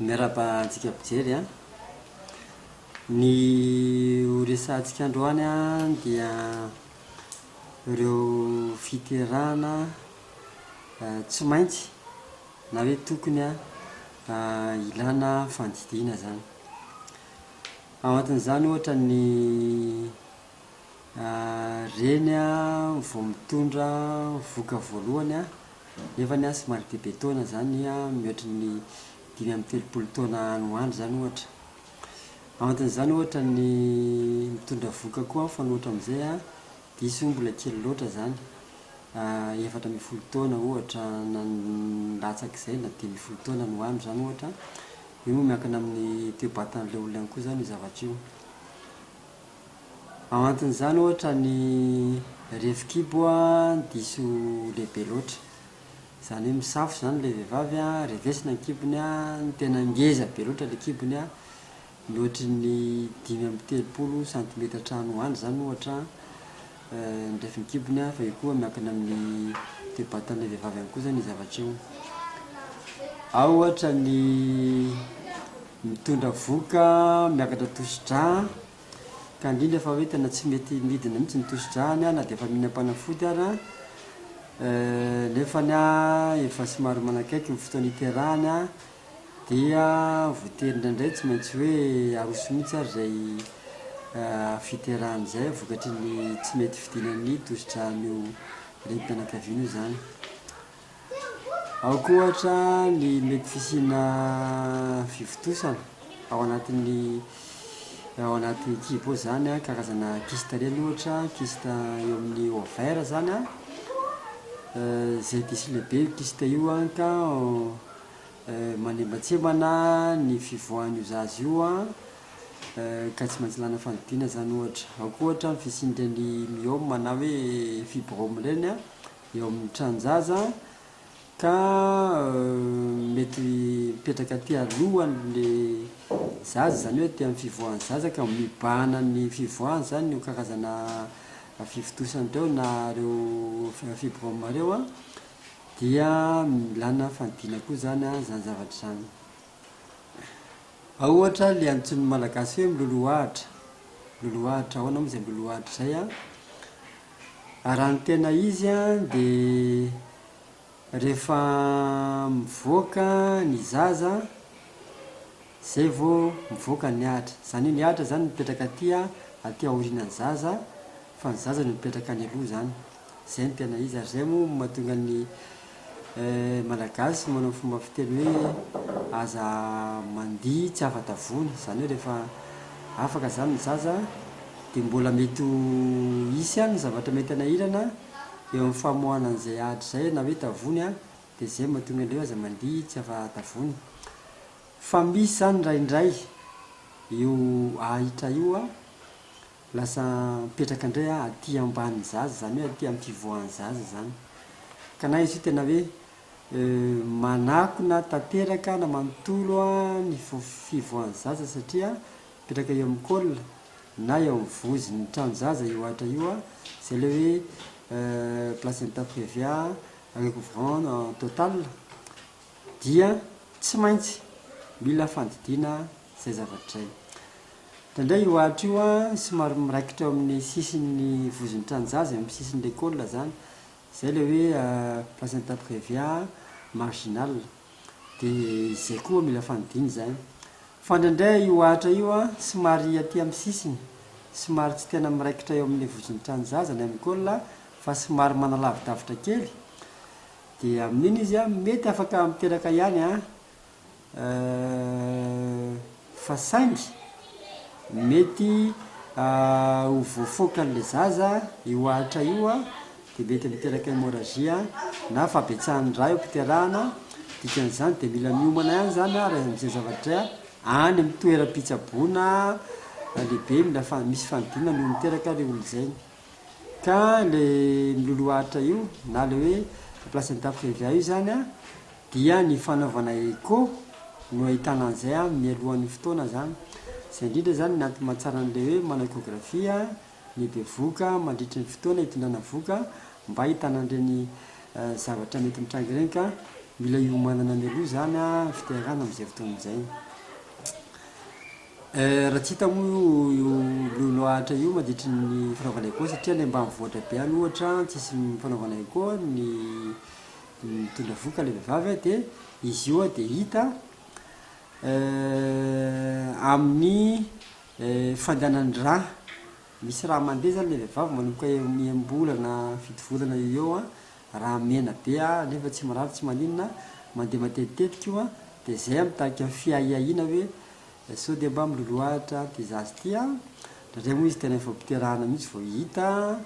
Miarahaba antsika mpijery an! Ny ho resahantsika androany an dia ireo fiterahana tsy maintsy na hoe tokony hilana fandidiana izany. Ao anatin'izany ohatra ny reny vao mitondra vohoka voalohany nefany an somary be be taona izany mihoatry ny dimy amby telopolo taona any ho any izany ohatra. Anton'izany ohatra ny mitondra vohoka koa mifanohitra amin'izay an, diso io mbola kely loatra izany, efatra ambin'ny folo taona ohatra na latsak'izay na dimy ambin'ny folo taona no any izany ohatra an, io moa miankina amin'ny toe-batan'ilay olona ihany koa izany io zavatra io. Anton'izany ohatra ny refin-kibo an, diso lehibe loatra. Izany hoe misafo izany ilay vehivavy an, revesina ny kibony an, tena ngeza be loatra ilay kibony an, mihoatry ny dimy amby telopolo santimetatra any ho any izany ohatra an, ny refin'ny kibony an, fa io koa miankina amin'ny toe-batan'ilay vehivavy ihany koa izany io zavatra io. Ao ohatra ny mitondra vohoka miakatra tosi-drà an. Ka indrindra fa hoe tena tsy mety midina mihitsy ny tosi-drahany aho na dia efa mihinam-panafody ara eh, nefany ah efa somary manakaiky ny fotoana hiterahany ah, dia voatery indraindray tsy maintsy hoe aroso mihitsy ary izay ah fiterahany izay vokatry ny tsy mety fidinan'ny tosi-drahany io renim-pianakaviana io izany. Ankoatra ny mety fisiana fivontosana ao anatin'ny ao anaty kibo ao zany an, karazana kista reny ohatra, kista eo amin'ny ovaire zany an, izay diso lehibe io kista io an ka manembatsembana ny fivoahan'io zaza io an, ka tsy maintsy ilana fandidiana zany ohatra, ao koa ohatra ny fisian'ireny myome na hoe fibrome ireny an, eo amin'ny tranon-jaza ka mety mipetraka aty aloha ny zaza, izany hoe aty amin'ny fivoahan'ny zaza ka mibahana ny fivoahany, izany io karazana fivontosana ireo na ireo fibrome ireo an, dia ilana fandidiana koa izany izany zavatra izany. Ao ohatra le antsoin'ny malagasy hoe miloloha ahitra, miloloha ahitra, ahoana moa izay miloloha ahitra izay an? Raha ny tena izy an, dia rehefa mivoaka ny zaza an, izay vao mivoaka ny ahitra. Izany hoe ny ahitra izany mipetraka aty an, aty aorianan'ny zaza fa ny zaza no mipetraka any aloha izany. Zay no tena izy ary zay moa no mahatonga ny Malagasy manao fomba fiteny hoe aza mandihy tsy afa-tavoana, izany hoe rehefa afaka izany ny zaza dia mbola mety ho hisy ihany ny zavatra mety hanahirana eo amin'ny famoahana an'izay ady izay na hoe tavoany an, dia izay no mahatonga an'ireo hoe aza mandihy tsy afa-tavoana. Fa misy izany indraindray io ahitra io an. Lasa mipetraka indray aho aty ambanin'ny zaza, izany hoe aty amin'ny fivoahan'ny zaza izany. Ka na izy io tena hoe manakona tanteraka na manontolo ny fivoahan'ny zaza satria mipetraka eo amin'ny col na eo amin'ny vozon'ny tranon-jaza io Atra io, izay ilay hoe placenta previa recouvrant en total, dia tsy maintsy mila fandidiana izay zavatra izay. Indraindray io atra io somary miraikitra eo amin'ny sisin'ny vozon'ny tranonjaza, eo amin'ny sisin'ny lekôly izany, izay ilay hoe placenta previa marginal. Dia izay koa mila fandidiana izany. Fa indraindray io atra io somary aty amin'ny sisiny, somary tsy tena miraikitra eo amin'ny vozon'ny tranonjaza na eo amin'ny col fa somary manalavidavitra kely, Dia amin'iny izy an, mety afaka miteraka ihany an, eh, fa saingy mety ho voafoakan'ilay zaza io ahitra io an, dia mety miteraka hémorragie an, na fahabetsahan'ny rà eo am-piterahana, dikan'izany dia mila miomana ihany izany an, raha izay zavatra an, any amin'ny toeram-pitsaboana lehibe mila fa misy fanodinana io miteraka ilay olona izay. Ka le miloloharitra io na le hoe remplace ny tafika EVA io zany an, dia ny fanaovana echo no ahitana an'izay an mialohan'ny fotoana zany. Zay indrindra zany ny antony mahatsara an'le hoe manao echographie ny bevohoka mandritry ny fotoana itondrana vohoka mba ahitana an'ireny zavatra mety mitranga ireny ka mila hiomanana mialoha zany an ny fiterahana amin'izay fotoana izay. Eh, raha tsy hita moa io io lolo Atra io mandritry ny fanaovana echo satria any ambanivohitra be any ohatra an tsisy fanaovana echo an ny mitondra vohoka ilay vehivavy an dia izy io an dia hita eh amin'ny eh fandehanan'ny rà misy rà mandeha zany ilay vehivavy manomboka enim-bolana fito volana eo ho eo an Raha mena be aho nefa tsy mirary tsy maninona, mandeha matetitetika io an, dia izay aho mitarika fiahiahiana hoe sao dia mba miloloahatra ity zaza ity an, indraindray moa izy tena efa piterahana mihitsy vao hita,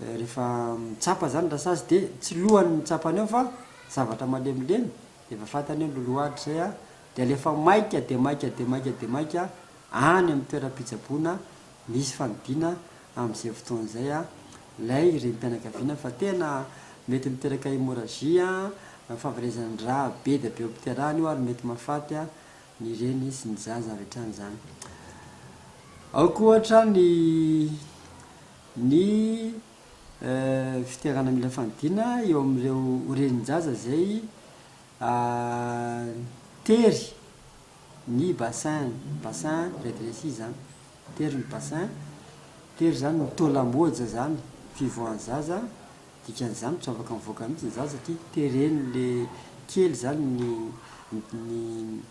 rehefa mitsapa izany ny rasazy dia tsy lohany ny mitsapany ao fa zavatra malemilemy, dia efa fantany hoe miloloahatra izay aho, dia alefa maika dia maika dia maika dia maika any amin'ny toeram-pitsaboana Nisy fandidiana amin'izay fotoana izay ilay renim-pianakaviana fa tena mety miteraka hémorragie, fahaverezan'ny rà be dia be eo am-piterahana io ary mety mahafaty ny reny sy ny zaza avy hatrany izany. Ao koa ohatra ny ny fiterahana mila fandidiana eo amin'ireo renin-jaza izay tery. Ny bassin, bassin rétréci zany, tery ny bassin, tery zany ny taux lamboja zany, fivoahan'ny zaza, dikan'izany tsy afaka mivoaka mihitsy ny zaza satria tereny le kely zany ny ny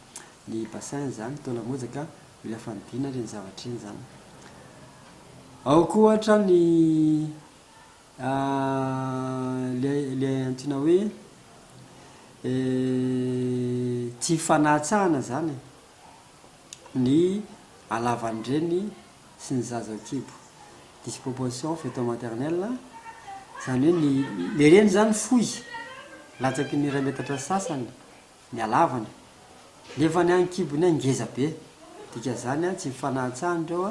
ny bassin zany, taux lamboja ka mila fandidiana ireny zavatra ireny zany. Ao koa ohatra ny. Ilay antsoina hoe tsy fanatsahana izany e! Ny halavan'ny reny sy ny zaza ao an-kibo. Disproportion fetal maternelle, izany hoe ny, ilay reny izany fohy, latsaky ny iray metatra sy sasany ny halavany, nefa ny an'ny kibo indray ngeza be. Dikan'izany, tsy fanatsahana ireo,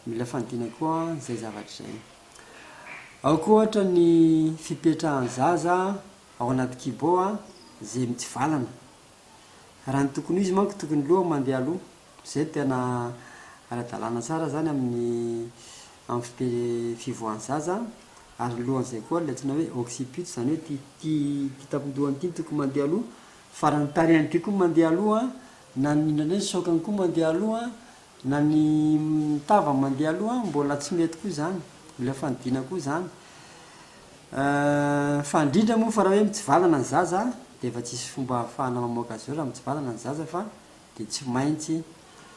mila fandidiana koa izay zavatra izay. Aoka ohatra ny fipetrahan'ny zaza ao anaty kibo izay mitsivalana. Raha ny tokony ho izy manko tokony ny lohany mandeha aloha, izay no tena ara-dalàna tsara izany amin'ny amin'ny fipe- fivoahan'ny zaza ary ny lohan'izay koa ilay antsoina hoe occiput izany hoe ity ity tampon-dohany ity no tokony mandeha aloha fa raha ny tarehiny ity koa no mandeha aloha, na ny indray indray ny saokany koa mandeha aloha, Na ny tava mandeha aloha mbola tsy mety koa izany, mila fanidiana koa izany. Fa indrindra moa fa raha hoe mitsivalana ny zaza dia efa tsisy fomba ahafahana mamoaka azy ireo raha mitsivalana ny zaza fa dia tsy maintsy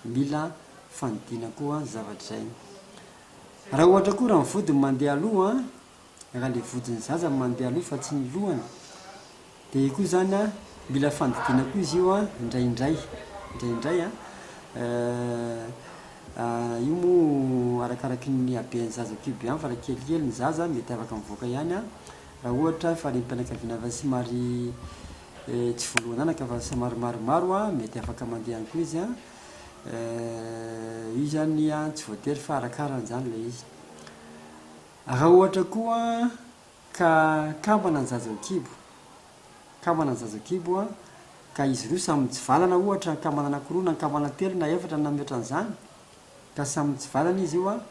mila fanidiana koa izay zavatra izay. Raha ohatra koa raha ny vodiny mandeha aloha, raha le vodiny zaza no mandeha aloha fa tsy ny lohany de io koa zany an mila fandidiana koa izy io an indraindray indraindray an io moa arakaraky ny haben'ny zaza koa be any fa raha kelikely ny zaza mety afaka mivoaka ihany an raha ohatra fa renim-pianakaviana efa somary tsy voalohan'anaka fa somary maromaro an mety afaka mandeha ihany koa izy an io zany an tsy voatery fa arakarany zany le izy Raha ohatra koa ka kambana ny zaza an-kibo, kambana ny zaza an-kibo, ka izy roa samy mitsivalana ohatra, kambana anankiroa na kambana telo na efatra na mihoatra an'izany, ka samy mitsivalana izy io,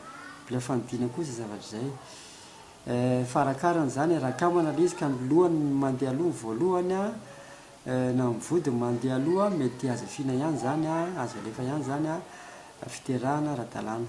mbola fanidina koa izay zavatra izay. Fa arakarany izany, raha kambana ilay izy ka ny lohany no mandeha aloha ny voalohany, na ny vody no mandeha aloha, mety azo afiana ihany izany, azo alefa ihany izany, fiterahana ara-dalàna.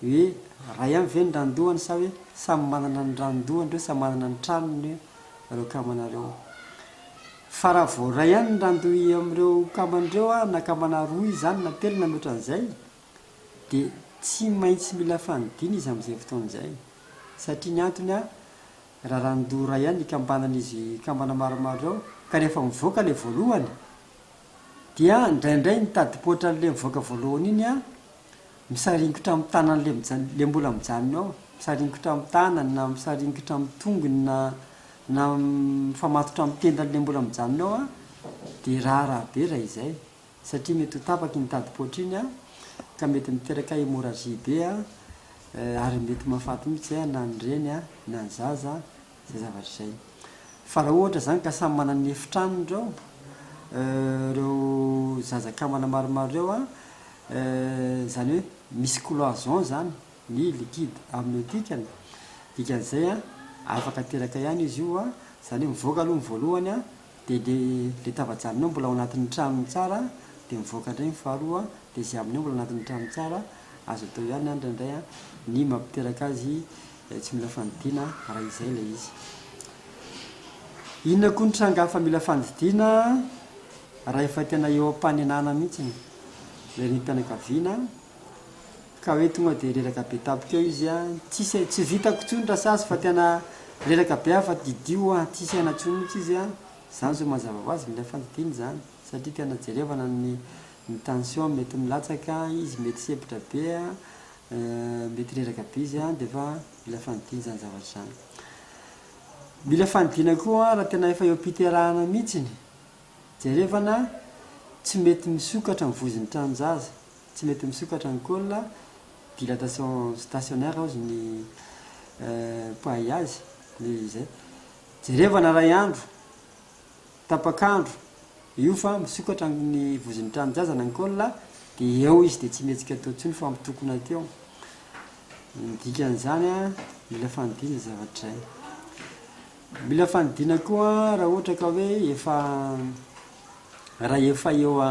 Hoe iray ihany ve ny randohany sa hoe samy manana ny randohany ireo, samy manana ny tranony ireo kamana ireo? Fa raha vao iray ihany ny randohy amin'ireo kamana ireo na kamana roa izy izany na telo na mihoatra an'izay dia tsy maintsy mila fanidiana izy amin'izay fotoana izay. Satria ny antony raha randoha iray ihany ikambanan'izy kambana maromaro ireo ka rehefa mivoaka ilay voalohany dia indraindray mitadipoitra an'ilay mivoaka voalohany iny Misaringotra amin'ny tanany le mbola mijanona ao, misaringotra amin'ny tanany na misaringotra amin'ny tongony na na mifamatotra amin'ny tendany le mbola mijanona ao an, dia raharaha be raha izay satria mety ho tapaka iny tadi-poatra iny an, ka mety miteraka hémorragie be an, ary mety mahafaty mihitsy an na ny reny an na ny zaza an. Izay zavatra izay. Fa raha ohatra izany ka samy manana ny efitranony ireo, ireo zaza kambana maromaro ireo an, izany hoe misy cloison izany ny liquide amniotique-ny, dikan'izay an, afaka teraka ihany izy io an, izany hoe mivoaka aloha ny voalohany an, Dia le le tavajanonao mbola ao anatin'ny tranony tsara dia mivoaka indray ny faharoa le izay aminao mbola anatin'ny tranony tsara azo atao ihany an indraindray an ny mampiteraka azy tsy mila fandidiana raha izay ilay izy inona koa ny tranga hafa mila fandidiana raha efa tena eo am-panenana mihitsy ny renim-pianakaviana Ka hoe tonga dia reraka be tampoka eo izy an! tsisy ai, tsy vitako tsony ra sazy fa tena reraka be aho fa didio an! tsisy aina tsony mitsy izy an! zany zao mazava ho azy mila fandidiana zany satria tena jerevana ny ny tension mety milatsaka an! izy mety sempotra be an! mety reraka be izy an! defa mila fandidiana zany zavatra zany mila fandidiana koa an! ra tena efa eo am-piterahana mitsiny jerevana tsy mety misokatra ny vozon'ny tranon-jaza Tsy mety misokatra ny col, dilatation stationnaire hozy ny mpahay azy, dia izay. Jerevana iray andro, tapak'andro io fa misokatra ny vozon'ny tranon-jazana ny col, dia eo izy dia tsy mihetsika atoa intsony fa mitokona aty ao. Ny dikan'izany, mila fanidiana izay zavatra izay. Mila fanidiana koa raha ohatra ka hoe efa, raha efa eo a.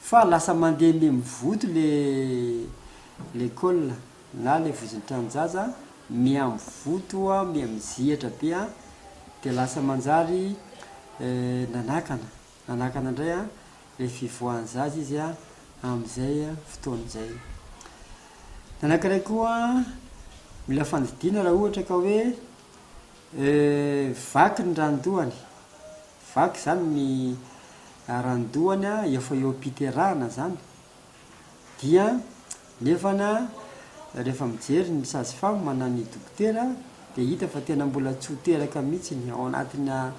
Fa lasa mandeha mimivoto le lekôla na le vozon-tranon-jaza mihamivoto a mihamizihatra be a de lasa manjary nanakana nanakana indray a le fivoahan'ny zaza izy a amin'izay fotoana izay. Ny anankiray koa mila fandidiana raha ohatra ka hoe vaky ny ranon-dohany. Vaky zany ny arandohany a, efa eo am-piterahana zany, dia nefany a, rehefa mijery ny sage femme na ny dokotera dia hita fa tena mbola tsy ho teraka mihitsy ny ao anatina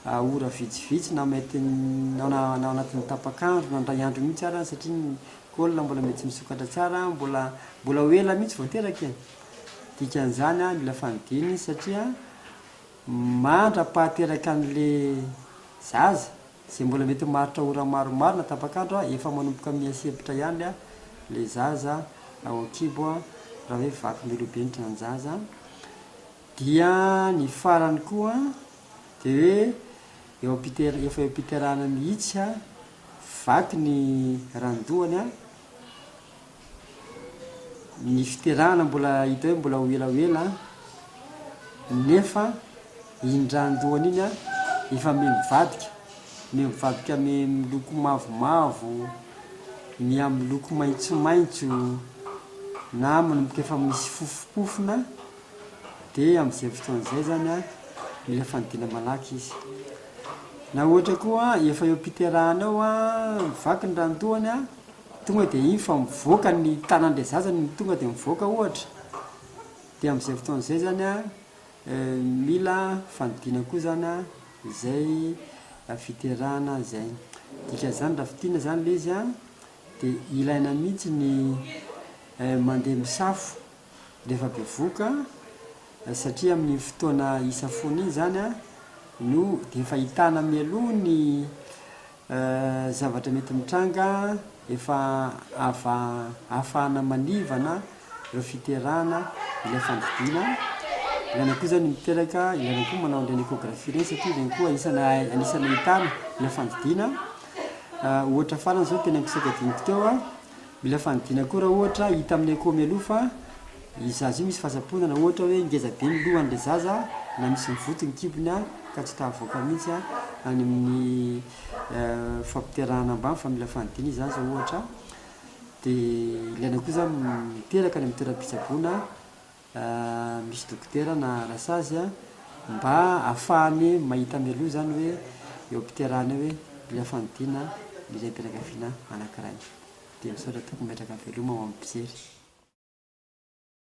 ora vitsivitsy na mety na ao anatin'ny tapak'andro na indray andro mihitsy ara satria ny col mbola mety tsy misokatra tsara, mbola mbola ho ela mihitsy vao teraka e! dikan'izany a, mila fandidiana izy satria. Mandra-pahateraka an'le zaza, zay mbola mety maharitra ora maromaro na tapak'andro a, efa manomboka miha-sempotra ihany a, le zaza ao an-kibo a, raha hoe vaky milobenitra ny zaza. Dia ny farany koa de hoe eo am-piter- efa eo am-piterahana mihitsy a, vaky ny randohany a. Ny fiterahana mbola hita hoe mbola ho ela ho ela nefa iny ra andohany iny efa miha mivadika, miha mivadika miha miloko mavomavo, miha miloko maitsomaitso na manomboka efa misy fofopofona dia amin'izay fotoana izay izany an, mila fanidina malaky izy. Na ohatra koa efa eo am-piterahana eo an, vaky ny ra andohany an. Tonga dia iny fa mivoaka ny tanan'ilay zaza no tonga dia mivoaka ohatra dia amin'izay fotoana izay izany an, mila fandidiana koa izany an, izay fiterahana izay. Dikan'izany raha fintinina izany ilay izy an, dia ilaina mihitsy ny mandeha misafo rehefa bevoka satria amin'iny fotoana hisafoana iny izany an no dia efa hitana mialoha ny Zavatra mety mitranga, efa afahana manivana ireo fiterahana ilay fandidiana, ilaina koa izany miteraka, ilaina koa manao an'ireny échographie ireny satria ireny koa anisany ahitana ilay fandidiana, ohatra farany izao tena nisokadiantsika teo Mila fanidina koa raha ohatra hita amin'ny echo mialoha fa io zaza io misy fahatsapona na ohatra hoe ngeza be ny lohan'ilay zaza na misy mivoty ny kibony ka tsy ta havoaka mihitsy any amin'ny fampiterahana ambany fa mila fanidina io zaza ohatra dia ilaina koa zany miteraka any amin'ny toeram-pitsaboana Raha misy dokotera na rasazy mba afahany mahita mialoha izany hoe eo am-piterahana eo hoe mila fandidiana ny renim-pianakaviana anankiray. Dia misaotra tompoko mipetraka veloma ho amin'ny mpijery.